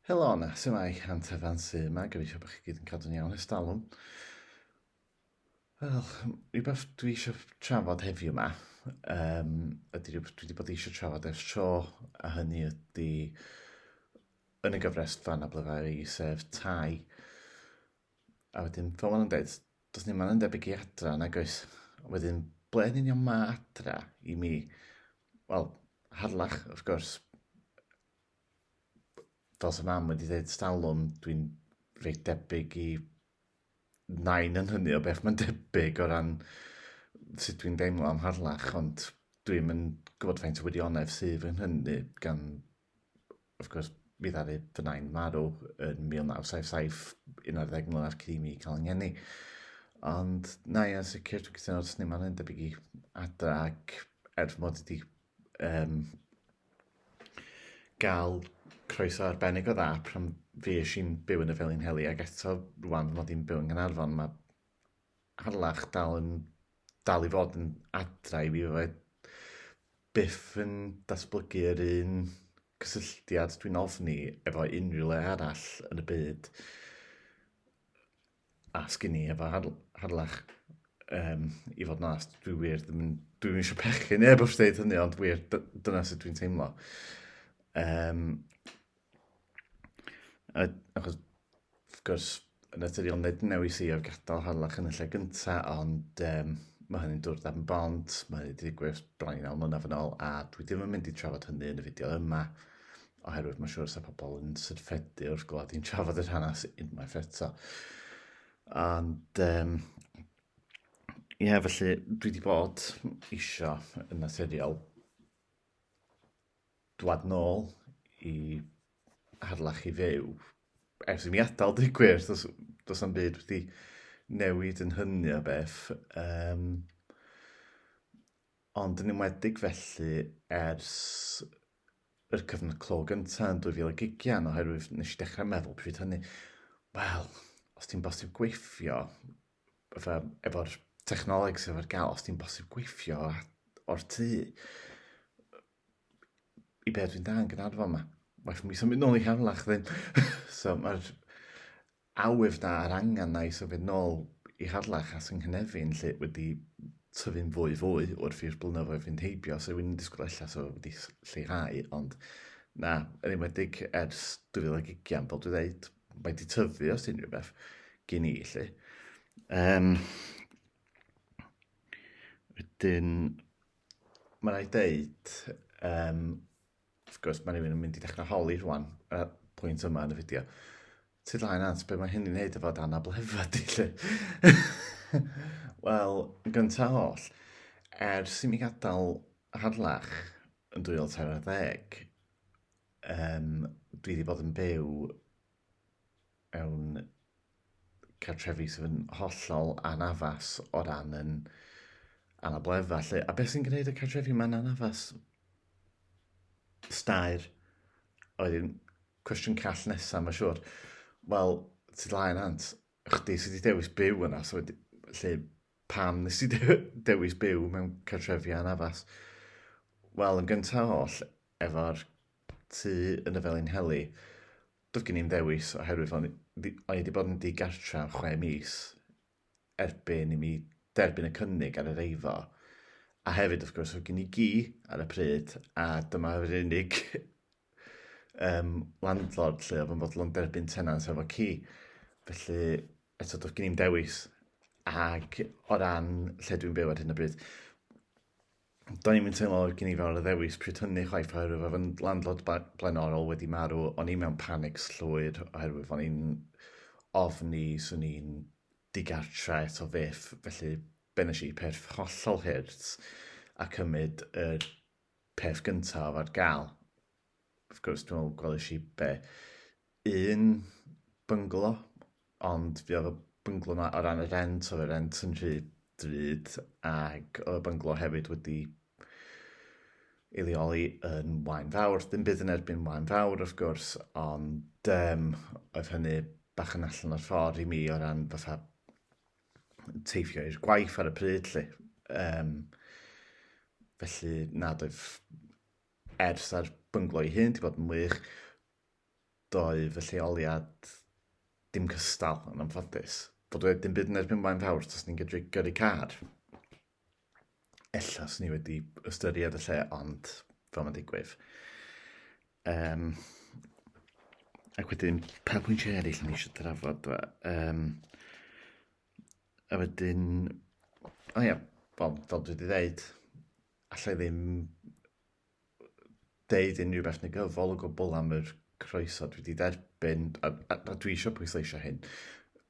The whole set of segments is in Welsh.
Helo yna, sy'n mae Hant Evan sy yma, gyfeithio bod chi gyd yn cadw'n iawn ys dalwm. Wel, rhywbeth dwi eisiau trafod heddiw yma, um, ydy rhywbeth dwi wedi bod eisiau trafod ers tro, a hynny ydy yn y gyfres fan a blyfau i sef tai. A wedyn, fel maen nhw'n dweud, does ni maen yn debyg i adra, nag oes? Wedyn, ble yn union mae adra i mi? Wel, harlach, wrth gwrs, fel sy'n mam wedi dweud stalwm, dwi'n reit debyg i nain yn hynny o beth mae'n debyg o ran sut dwi'n deimlo am harlach, ond dwi'n mynd gwybod faint o wirionedd sydd yn hynny gan wrth gwrs, mi ddaru fy nain marw yn 1977, 11 mlynedd cyn i mi cael yng Ngheni. Ond na, ia, yn sicr, dwi'n cytuno wrth ni, mae'n debyg i adra ac er fy mod i wedi um, gael croeso arbennig o dda pan fi eisiau'n byw yn y Felin Heli ac eto rwan fy mod i'n byw yn Nghanarfon, mae Harlech dal yn dal i fod yn adra i fi, fydda i byth yn datblygu yr un cysylltiad dwi'n ofni efo unrhyw le arall yn y byd a sgin i efo Har- Harlech. Yym, i fod yn onest, dwi wir ddim yn... Dwi'm isio pechu neb wrth ddeud hynny, ond wir, dy- dyna sut dwi'n teimlo. Yym. A, achos, wrth gwrs, yn naturiol nid newis i o'r gadael harlach yn y lle gynta, ond um, mae hynny'n dŵr dan bont, mae hynny wedi digwydd bron i naw mlynedd yn ôl, a dwi ddim yn mynd i trafod hynny yn y fideo yma, oherwydd mae'n siŵr sa pobl yn syrffedu wrth glod i'n trafod yr hanes unwaith eto. Ond, um, ie, yeah, felly, dwi wedi bod eisiau yn naturiol dwad nôl i Harlech i fyw. Ers i mi adael, dweud gwir, does, does am byd wedi newid yn hynny o beth. Um, ond yn ymwedig felly ers yr cyfnod clo gyntaf yn 2020, oherwydd nes i dechrau meddwl pryd hynny, wel, os ti'n bosib gweithio, fatha efo'r technoleg sydd ar gael, os ti'n bosib gweithio o'r tŷ, i beth dwi'n da yn Gynarfon yma. Waith mi symud nôl i Harlech ddim. so mae'r awydd na a'r angen na i symud nôl i Harlech a sy'n Nghynefin lle wedi tyfu'n fwy fwy wrth i'r blynyddoedd fynd heibio, so wy'n disgwyl allan so wedi lleihau, ond na, yn enwedig ers 2020, fel dwi'n dweud, mae di tyfu os ti'n rhyw beth gen i, lle. Um, wedyn, mae'n rhaid deud, um, wrth gwrs, mae rhywun yn mynd i ddechrau holi rwan, y pwynt yma yn y fideo. Ti dda'n ans, beth mae hynny'n neud efo dan ablefa di, lle. Wel, yn gyntaf holl, ers i mi gadael harlach yn 2013, Yym, dwi 'di bod yn byw mewn cartrefi sydd yn hollol anaddas o ran yn anabledda 'lly, a beth sy'n gwneud y cartrefi 'ma'n anaddas? Staer oedd un cwestiwn call nesa mae'n siŵr. Wel, ti dlai nant, chdi sydd wedi dewis byw yna, so wedi... lle pam nes ti dewis byw mewn cartrefi anaddas? Wel, yn gyntaf oll, efo'r tŷ yn y Felinheli, doedd gen i ddim dewis oherwydd o'n i wedi bod yn ddigartra am chwe mis erbyn i mi derbyn y cynnig ar yr eiddo. A hefyd, wrth gwrs, oedd gen i gi ar y pryd, a dyma yr unig um, landlord lle oedd yn fodlon derbyn tenant efo ci. Felly, eto, doedd gen i'n dewis. Ac o ran lle dwi'n byw ar hyn o bryd, Do'n i'm yn teimlo oedd gen i fawr o ddewis pryd hynny chwaith oherwydd oedd yn landlord blaenorol wedi marw. O'n i mewn panic llwyr oherwydd o'n i'n ofni swn i'n digartre eto fyth. Felly be nes i? Peth hollol hurt a cymryd yr peth gyntaf ar gael. wrth gwrs, dwi'n meddwl gwelais i be, un bynglo, ond fi oedd y bynglo yma o ran y rent, oedd y rent yn rhy drud, ac oedd y bynglo hefyd wedi ei leoli yn wain fawr. Dim byd yn erbyn wain fawr, wrth gwrs, ond um, oedd hynny bach yn allan o'r ffordd i mi o ran fatha teithio i'r gwaith ar y pryd, lle. Um, felly, nad oedd Ers a'r bynglo ei hun, 'di bod yn wych. Doedd y lleoliad dim cystal, yn anffodus. Bod wedi dim byd yn erbyn Blaen Fawr, os ni'n gydru gyrru car. Ella, swn ni wedi ystyried y lle, ond fel mae'n digwydd. Um, ac wedyn, pa pwyntiau eraill ni eisiau drafod? Um, a wedyn, o ia, fel dwi wedi dweud, alla i ddim deud unrhyw beth negyddol o gwbl am yr croeso dwi wedi derbyn, a, a, a dwi eisiau pwysleisio hyn,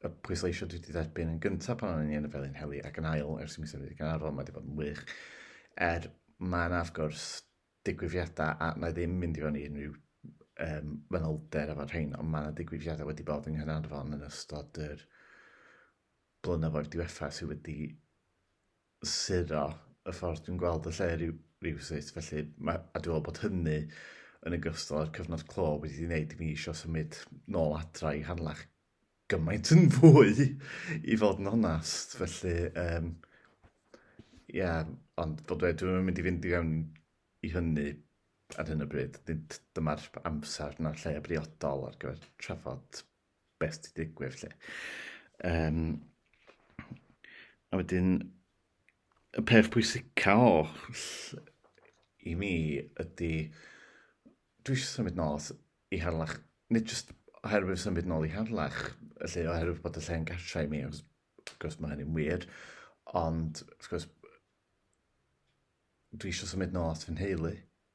y pwysleisio dwi wedi derbyn yn gyntaf pan o'n i yn y Felin Heli ac yn ail ers mis wedi ganarfon, mae wedi bod yn wych. Er mae yna, wrth gwrs, digwyddiadau a na i ddim mynd i fod i unrhyw um, fanylder efo'r rhain, ond mae yna digwyddiadau wedi bod yng Nghynarfon yn ystod yr blynyddoedd diwetha sydd wedi suro y ffordd dwi'n gweld y lle ryw, rywsut, felly mae, a dwi'n meddwl bod hynny yn y gystal â'r cyfnod clo wedi ei wneud i mi eisiau symud nôl adra i Hanlach gymaint yn fwy i fod yn onast, felly um, ia, ond fel dweud, dwi'n mynd i fynd i fewn i hynny ar hyn o bryd. Nid dyma'r amser na'r lle briodol ar gyfer trafod beth sy'n digwydd lle. Um, a wedyn, y peth pwysica o i mi ydy, dwi eisiau symud nôl i harlach, nid jyst oherwydd symud nôl i harlach, lle oherwydd bod y lle'n gartrau i mi, wrth gwrs mae hynny'n wir, ond wrth gwrs dwi eisiau symud nôl at fy nheulu,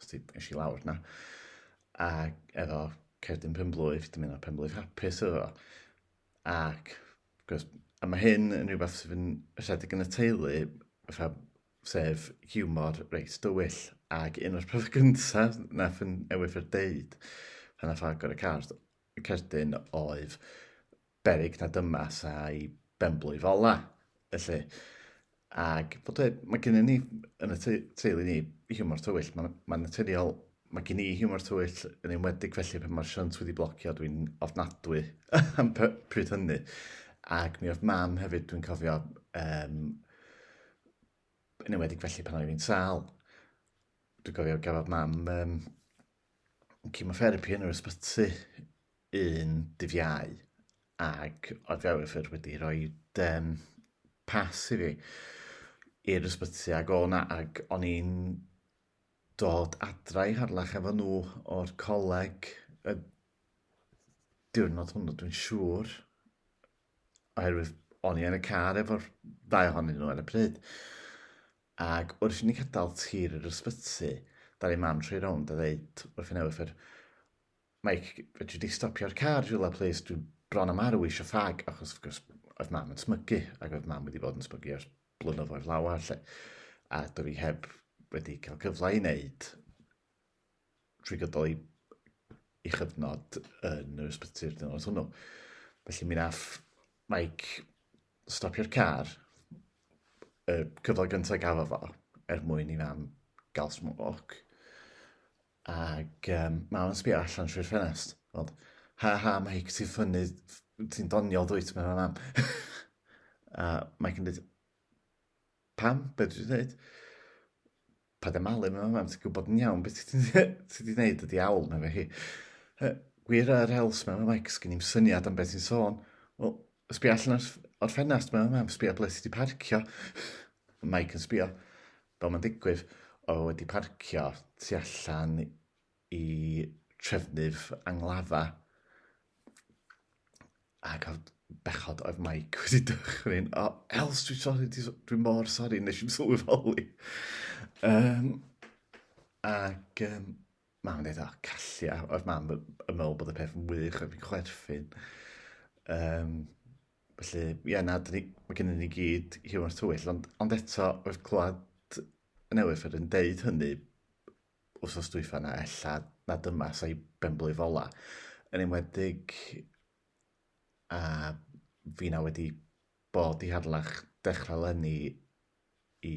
Os ti eisiau i lawr na. A efo cerdyn penblwydd, dim yna penblwydd hapus efo. Ac, gwrs, a mae hyn yn rhywbeth sydd yn rhedeg yn y teulu, fatha, sef humor reit dywyll. Ac un o'r pethau gyntaf na fy newid fy deud pan nath agor y car, cerdyn oedd berig na dyma sa'i benblwydd ola, felly. Ac bod e, mae gennym ni yn y teulu ni hiwmor tywyll, mae'n ma naturiol, mae gen i hiwmor tywyll yn enwedig felly pan mae'r siant wedi blocio dwi'n ofnadwy am pryd hynny. Ac mi oedd mam hefyd dwi'n cofio um, yn enwedig felly pan oedd hi'n sal. Dwi'n cofio gafodd mam um, cemotherapi yn yr ysbyty un dydd Iau ac oedd Ewyfr wedi rhoi um, pas i fi i'r ysbyty ac o'n ac o'n i'n dod adra i harlach efo nhw o'r coleg y diwrnod hwnnw dwi'n siŵr oherwydd o'n i yn y car efo'r ddau ohonyn nhw ar y pryd Ac wrth i ni gadael tir yr ysbyty, dal i mam troi rownd a ddeud wrth yn ewythr, Mike, fedri di stopio'r car rhywle plis, dwi bron a marw eisiau ffag, achos wrth gwrs oedd mam yn smygu, ac oedd mam wedi bod yn smygu ers blynyddoedd lawer 'lly, a doedd hi heb wedi cael cyfle i wneud trwy gydol ei, ei chyfnod yn yr ysbyty'r dynod hwnnw. Felly mi nath Mike stopio'r car, y cyfle gyntaf gafo fo, er mwyn i fam gael smwc. Ac um, mam yn sbio allan trwy'r ffenest. Ond, ha ha, Mike, ti'n ffynnu, ti'n doniol dwyt, mae'n mam. a Mike yn dweud, pam, beth dwi'n dweud? Paid â malu mewn mam, ti'n gwybod yn iawn beth ti wedi gwneud y diawl na fe hi. Gwir yr hels mewn Mike, sgyn i'n syniad am beth ti'n sôn. Wel, sbio allan o'r ffenast mewn mam, sbio ble sydd wedi parcio. Mike yn sbio, fel mae'n digwydd, o wedi parcio tu allan i trefnydd anglafa ac oedd bechod oedd Mike wedi dychryn. O, oh, Els, dwi'n sori, dwi'n mor sori, nes i'n sylweddoli. Um, ac um, mam yn dweud, o, oh, callia, oedd mam yn meddwl bod y peth yn wych, oedd fi'n chwerthin. Um, felly, ie, yeah, na, ni, mae gennym ni gyd hiwmor tywyll, ond, ond eto, oedd clywed newydd yr yn deud hynny, wrthos dwyfa na ella na dyma sa'i benblwydd ola. Yn enwedig a fi na wedi bod i harlach dechrau lenni i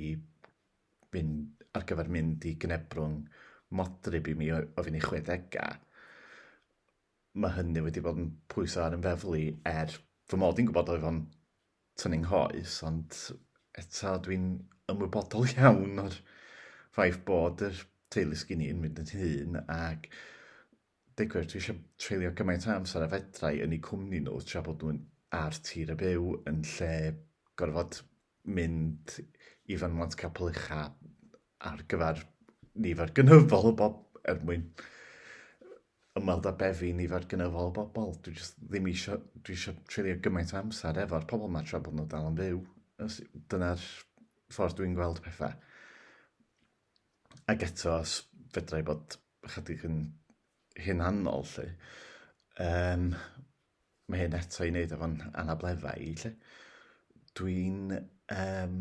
fynd ar gyfer mynd i gnebrwng modryb i mi o, o fi'n ei chwedega. Mae hynny wedi bod yn pwyso ar yn feflu er fy mod i'n gwybod oedd o'n tŷ ni nghoes, ond eto dwi'n ymwybodol iawn o'r ffaith bod yr teulu sgyn i'n mynd yn hun ac digwyr dwi eisiau treulio gymaint o amser a fedrai yn eu cwmni nhw tra bod nhw'n ar tir y byw yn lle gorfod mynd i fynwant capel ucha ar gyfer nifer gynyddol o bob er mwyn ymweld â befi nifer gynyddol o bobl. Dwi jyst ddim isio, dwi isio treulio gymaint o amser efo'r pobl yma tra bod nhw dal yn fyw. Dyna'r ffordd dwi'n gweld pethau. Ac eto, os fedra i bod ychydig yn hunanol, lle, um, mae hyn eto i wneud efo'n anableddau i, lle. Dwi'n... Um,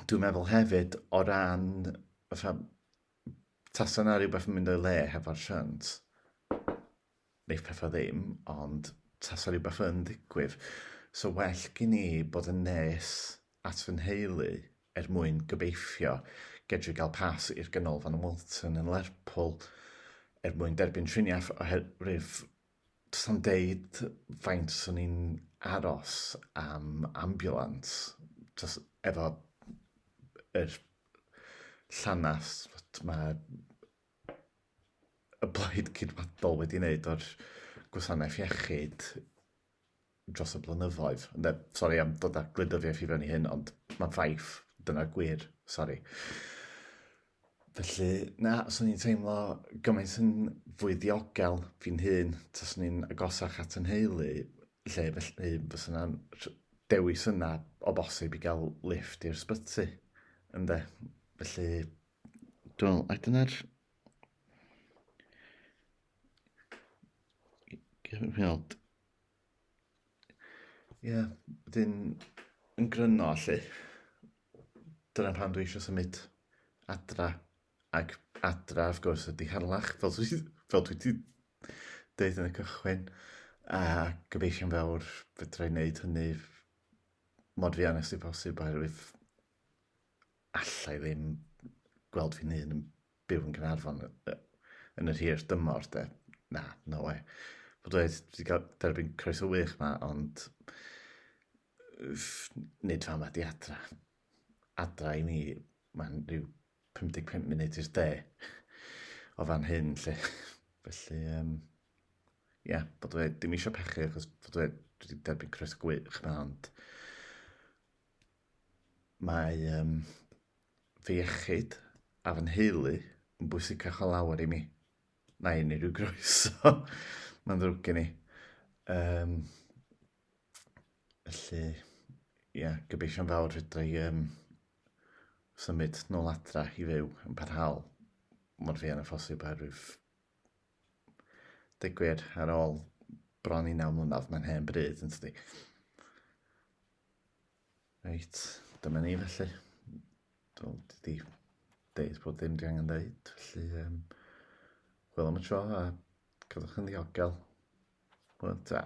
dwi'n meddwl hefyd o ran fatha Tasa 'na rhywbeth yn mynd o'i le hefo'r shunt. Neith pethau ddim, ond tasa rhywbeth yn ddigwydd. So well gen i bod yn nes at fy nheulu er mwyn gobeithio gedru gael pas i'r Ganolfan Walton yn Lerpwl er mwyn derbyn triniaeth oherwydd Does am deud faint o'n i'n aros am ambulance, just efo yr llanas fod ma' y Blaid Geidwadol wedi wneud o'r gwasanaeth iechyd dros y blynyddoedd. Ynde, sori am dod â gwleidyddiaeth i fewn i hyn, ond mae'n ffaith, dyna'r gwir, sori. Felly, na, swn i'n teimlo gymaint yn fwy ddiogel fi'n hun, tas ni'n agosach at yn heulu, lle felly fes yna dewis yna o bosib i gael lift i'r sbyty. Ynde, felly, dwi'n meddwl, a dyna'r Gweld. Ie, yeah, dyn yn gryno allu. Dyna pan dwi eisiau symud adra. Ac adra, of gwrs, ydy harlach, fel dwi, fel dwi wedi dweud yn y cychwyn. A gobeithio'n fawr fedra i wneud hynny mod fi anes i posib oherwydd allai ddim gweld fi'n hun yn byw yn Gaernarfon yn yr hir dymor de. Na, no way. Fod dweud, wedi cael derbyn croeso wych yma, ond nid fan ma di adra. Adra i mi, mae'n rhyw 55 munud i'r de o fan hyn, lle. Felly, um, ia, yeah, bod dweud, dim eisiau pechu, achos bod dweud, wedi derbyn croeso gwych yma, ond Mae yym fy iechyd a fy nheulu yn bwysicach o lawer i mi na unrhyw groeso. Mae'n ddrwg gen i. Yym, felly, ia, gobeithio'n fawr fedra i um, symud nôl adra i fyw yn parhaol mor fuan â phosib oherwydd deg gwir ar ôl bron i naw mlynedd mae'n hen bryd yn tydi? Reit, dyma ni felly. Dwi'n wedi deud bod dim di angen deud, felly um, wel am y tro a cadwch yn ddiogel. Wel, ta.